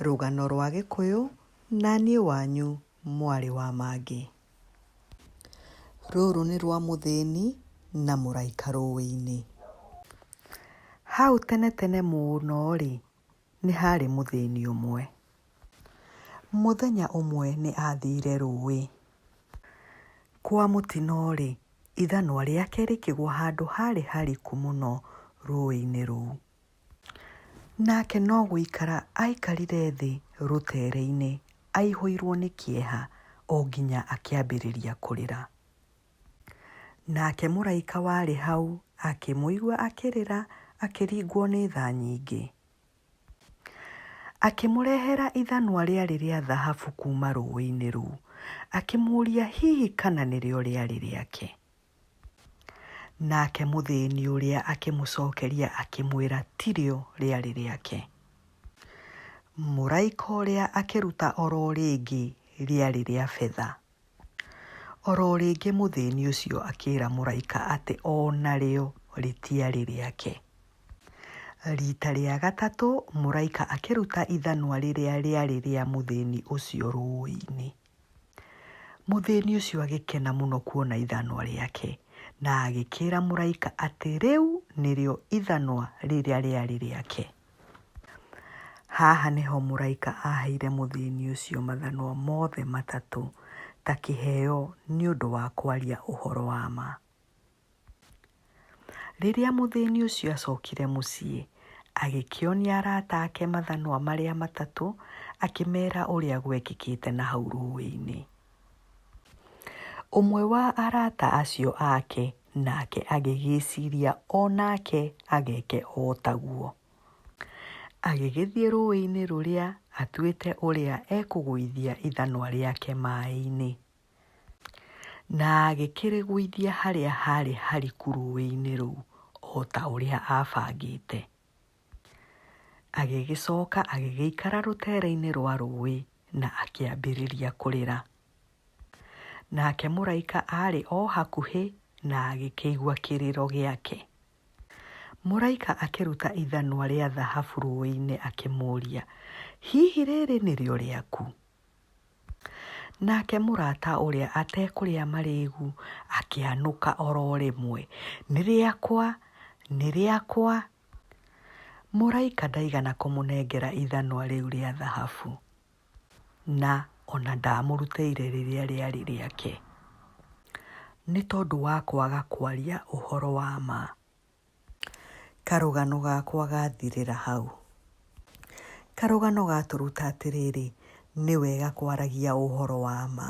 Rũgano rwa Gĩkũyũ na niĩ wanyu mwarĩ wa mangĩ. Rũrũ nĩ rwa mũthĩni na mũraika rũĩ-inĩ. Hau tene tene mũno rĩ, nĩ harĩ mũthĩni ũmwe. Mũthenya ũmwe nĩ athire rũĩ. Kwa mũtino rĩ, ithanwa rĩake rĩkĩgwa handũ harĩ hariku mũno rũĩ-inĩ rũu. Nake no gũikara aaikarire thĩ rũteere-inĩ aihũirwo nĩ kĩeha o nginya akĩambĩrĩria kũrĩra. Nake mũraika warĩ hau akĩmũigua akĩrĩra akĩringwo nĩ tha nyingĩ. Akĩmũrehera ithanwa rĩarĩ rĩa thahabu kuuma rũũĩ-inĩ rũu, akĩmũũria hihi kana nĩrĩo rĩarĩ rĩake. Nake mũthĩni ũrĩa akĩmũcokeria akĩmwĩra tirĩo rĩarĩ rĩake. Mũraika ũrĩa akĩruta oro rĩngĩ rĩarĩ rĩa betha. Oro rĩngĩ mũthĩni ũcio akĩra mũraika atĩ o narĩo rĩtiarĩ rĩake. Rita rĩa gatatũ mũraika akĩruta ithanwa rĩrĩa rĩarĩ rĩa mũthĩni ũcio rũĩ-inĩ. Mũthĩni ũcio agĩkena mũno kuona ithanwa rĩake, na agĩkĩra mũraika atĩ rĩu nĩrĩo ithanwa rĩrĩa rĩarĩ rĩake. Haha nĩho mũraika aheire mũthĩni ũcio mathanwa mothe matatũ ta kĩheo nĩ ũndũ wa kwaria ũhoro wa ma. Rĩrĩa mũthĩni ũcio acokire mũciĩ, agĩkĩonia arata ake mathanwa marĩa matatũ, akĩmera ũrĩa gwekĩkĩte na hau rũĩ-inĩ. Ũmwe wa arata acio ake nake agĩgĩciria o nake ageke o taguo. Agĩgĩthiĩ rũĩ-inĩ rũrĩa atuĩte ũrĩa ekũgũithia ithanwa rĩake maĩ-inĩ. Na agĩkĩrĩgũithia harĩa haarĩ hariku rũũĩ-inĩ rũu o ta ũrĩa aabangĩte. Agĩgĩcoka agĩgĩikara rũteere-inĩ rwa rũũĩ na akĩambĩrĩria kũrĩra. Nake mũraika aarĩ o hakuhĩ na agĩkĩigua kĩrĩro gĩake. Mũraika akĩruta ithanwa rĩa thahabu rũũĩ-inĩ akĩmũũria, Hihi rĩĩrĩ nĩrĩo rĩaku? Nake mũrata ũrĩa atekũrĩa marĩĩgu akĩanũka o ro rĩmwe, Nĩ rĩakwa! Nĩ rĩakwa! Mũraika ndaigana kũmũnengera ithanwa rĩu rĩa thahabu, na o na ndaamũrutĩire rĩrĩa rĩarĩ rĩake, nĩ tondũ wa kwaga kwaria ũhoro wa ma. Karũgano gakwa gathirĩra hau. Karũgano gatũruta atĩrĩrĩ, nĩ wega kwaragia ũhoro wa ma.